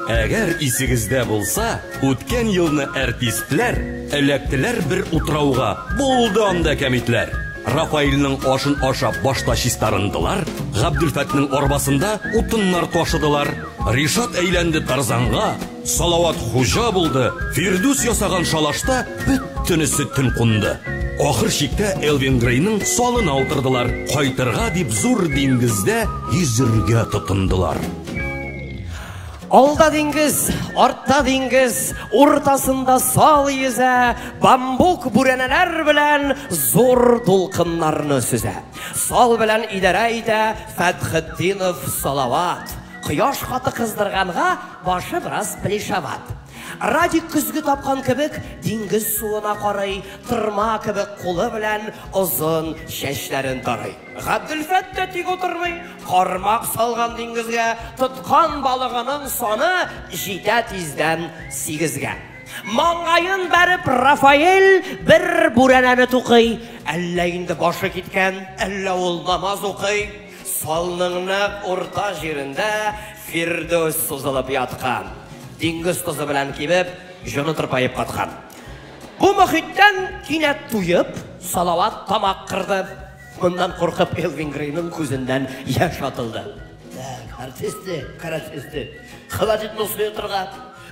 Әгәр исегездә булса, үткән елны әртистләр эләктеләр бер утрауга, булды анда кәмитләр. Рафаилның ашын ашап башта чистарындылар, Габдулфәтнең арбасында утыннар ташыдылар. Ришат әйләнде Тарзанга, Салават хуҗа булды, Фирдүс ясаган шалашта бөттенесе төн кунды. Ахыр чиктә Элвин Грейның салына утырдылар, кайтырга дип зур диңгездә йөзергә тотындылар. Алда диңгез, артта диңгез, уртасында сал йөзә, бамбук бүрәнәләр белән зур дулкыннарны сөзә. Сал белән идарә итә Фәтхетдинов Салават. Кояш каты кыздырганга, башы бераз плешават. Радик көзге тапкан кебек диңгез суына карый, тырма кебек кулы белән озын чәчләрен тарый. Габделфәт тә тик утырмый, кармак салган диңгезгә, тоткан балыгының саны җитә тиздән сигезгә. Маңгаен бәреп Рафаэль бер бүрәнәне тукый. Әллә инде башы киткән, әллә ул намаз укый. Салның нәкъ урта җирендә Фирдүс сузылып яткан. Диңгез тозы белән кибеп, җоны тырпаеп каткан. Бу мохиттән кинәт туеп, Салават тамак кырды. Моннан куркып Элвин Грейның күзеннән яшь атылды. Так, артисты, каратисты. Холодильник суе торга.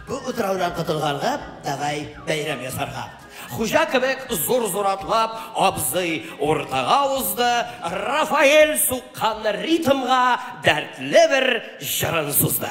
Бу утраудан котылганга, давай бәйрәм ясарга. Хуҗа кебек зур-зур атлап, абзый уртага узды, Рафаэль суккан ритмга дәртле бер җырын сузды.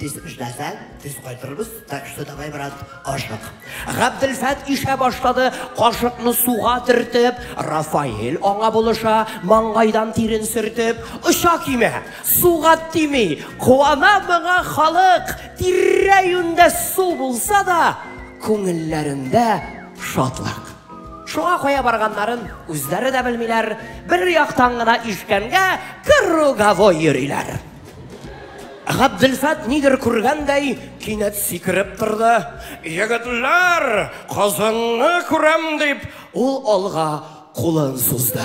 Тиз эшләсәң, тиз кайтырбыз, так что давай, брат, ашык. Габделфәт ишә башлады, кашыкны суга төртеп, Рафаэль аңа булыша, маңгайдан тирен сөртеп, оча кимә, суга тими, куана моңа халык, тирә-юньдә су булса да, күңелләрендә шатлык. Шуңа кая барганнарын үзләре дә белмиләр, бер яктан гына ишкәнгә круговой йөриләр. Габделфәт нидер күргәндәй, кинәт сикереп торды. Егетләр, кызыңны күрәм дип, ул алга кулын сузды.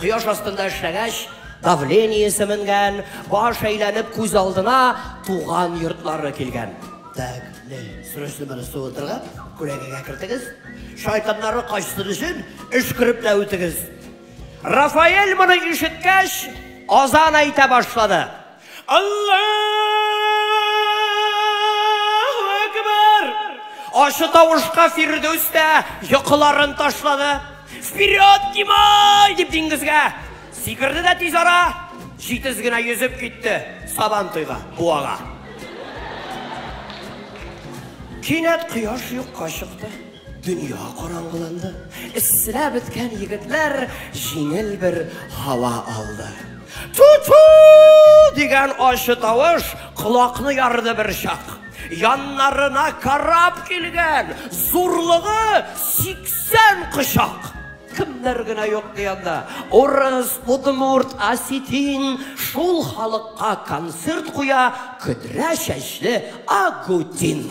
Кояш астында эшләгәч, давлениесе менгән, баш әйләнеп күз алдына туган йортлары килгән. Так, не, срочно моны суытырга, күләгәгә кертегез. Шайтаннары качсын өчен өшкерепләп үтегез. Рафаэль моны ишеткәч, азан әйтә башлады. Аллаһу әкбәр! Ачы тавышка Фирдүс тә йокыларын ташлады. Вперед, Кимай! дип диңгезгә сикерде дә тиз ара җитез генә йөзеп китте Сабан туйга, буага. Кинәт кояш юкка чыкты. Дөнья караңгыланды. Эсселәп беткән егетләр җиңел бер һава алды. Ту-ту! дигән ачы тавыш колакны ярды бер чак. Яннарына карап килгән зурлыгы 80 кочак кемнәр генә юк ди анда. Урыс, удмурт, осетин шул халыкка концерт куя көдрә чәчле Агутин.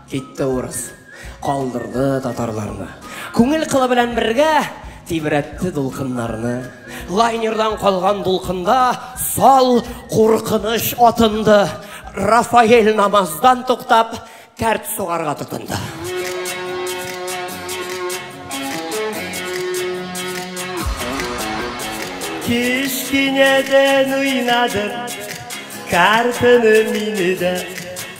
Китте урыс. Калдырды татарларны. Күңел кылы белән бергә Тибрәтте дулкыннарны. Лайнердан калган дулкында Сал куркыныч атынды. Рафаэль намаздан туктап, Кәрт сугарга тотынды. Кечкенәдән уйнадым Картаны мине дә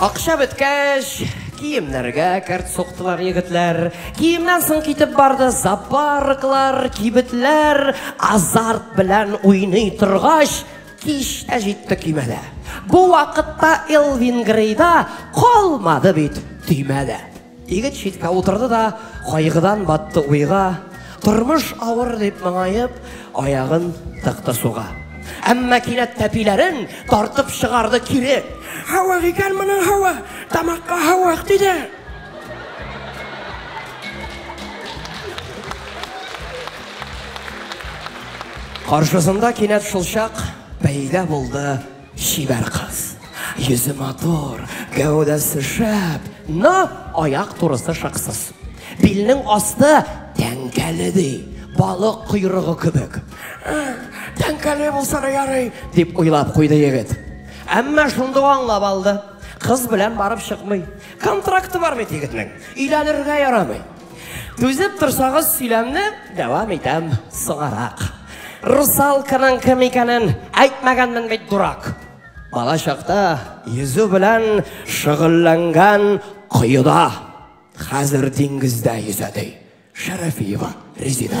Акча беткәч, киемнәргә кәрт суктылар егетләр. Киемнән соң китеп барды зоопарклар, кибетләр. Азарт белән уйный торгач, кич тә җитте көймәдә. Бу вакытта Элвин Грейда калмады бит төймә дә. Егет читкә утырды да кайгыдан батты уйга, Тормыш авыр дип моңаеп, аягын тыкты суга. Әмма кинәт тәпиләрен тартып чыгарды кире. Һавык икән моның һавы, тамакка һавык тиде. Каршысында кинәт шулчак пәйда булды. Чибәр кыз. Йөзе матур, гәүдәсе шәп, но аяк турысы шыксыз. Билнең асты тәңкәле ди, балык койрыгы кебек. Тәңкәле булса да ярый, дип уйлап куйды егет. Әмма шунда ук аңлап алды, кыз белән барып чыкмый. Контракты бар бит егетнең, өйләнергә ярамый. Түзеп торсагыз сөйләмне дәвам итәм соңарак. Русалканың кем икәнен әйтмәгәнмен бит дурак. Бала чакта йөзү белән шөгыльләнгән коеда. Хәзер диңгездә йөзә ди. Шәрәфиева Резида.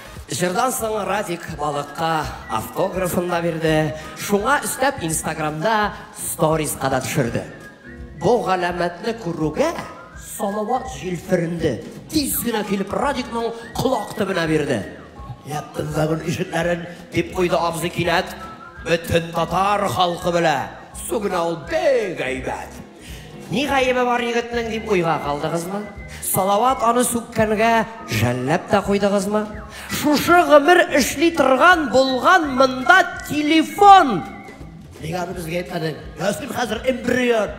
Җырдан соң Радик балыкка автографын да бирде, шуңа өстәп инстаграмда сториска да төшерде. Бу галәмәтне күрүгә, Салават җилференде, тиз генә килеп Радикның колак төбенә бирде. Яптым вагон ишекләрен, дип куйды абзый кинәт. Бөтен татар халкы белә, су генә ул бик әйбәт. Ни гаебе бар егетнең дип уйга калдыгызмы? Салават аны сүккәнгә жәлләп тә куйдыгызмы? Шушы гомер эшли торган булган монда телефон! Нигә аны безгә әйтмәдең? Ясин хәзер эмбрион.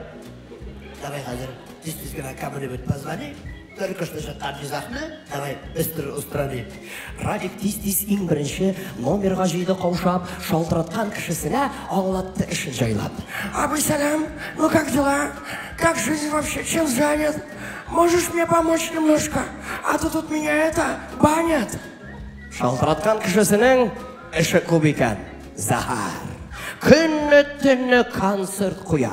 Давай хәзер тиз-тиз генә камере бит позвони. Тыркыш төшеп кардизахны давай быстро устраним. Радик тиз-тиз иң беренче номерга җыйды каушап, шалтыраткан кешесенә аңлатты эшен җайлап. Абый сәлам, ну как дела? Как жизнь вообще, чем занят? Можешь мне помочь немножко? А то тут меня это, банят. Шалтыраткан кешесенең эше күп икән, зәһәр. Көнне-төнне концерт куя.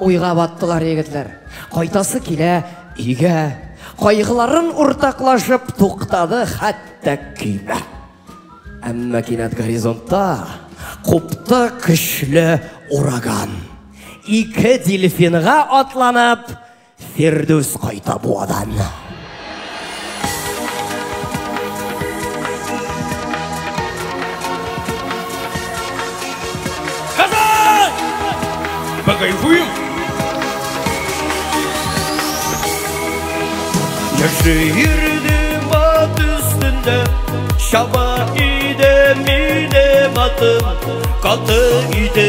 Уйга баттылар егетләр. Кайтасы килә өйгә. Кайгыларын уртаклашып туктады хәтта көймә. Әмма кинәт горизонтта купты көчле ураган. Ике дельфинга атланып, Фирдүс кайта Буадан. Покайфуем! Яши йөрде ат өстендә, чаба иде мине матым, каты иде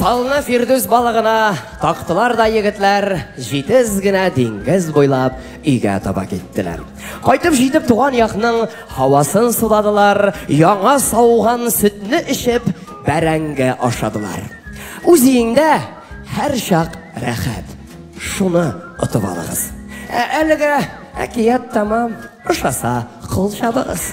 Салны Фирдүс балыгына тактылар да егетләр җитез генә диңгез буйлап өйгә таба киттеләр. Кайтып җитеп туган якның һавасын суладылар, яңа сауган сөтне эчеп Бәрәңге ашадылар. Үз өеңдә һәрчак рәхәт. Шуны отып алыгыз. Ә әлегә әкият тәмам. Ошаса, кул чабыгыз.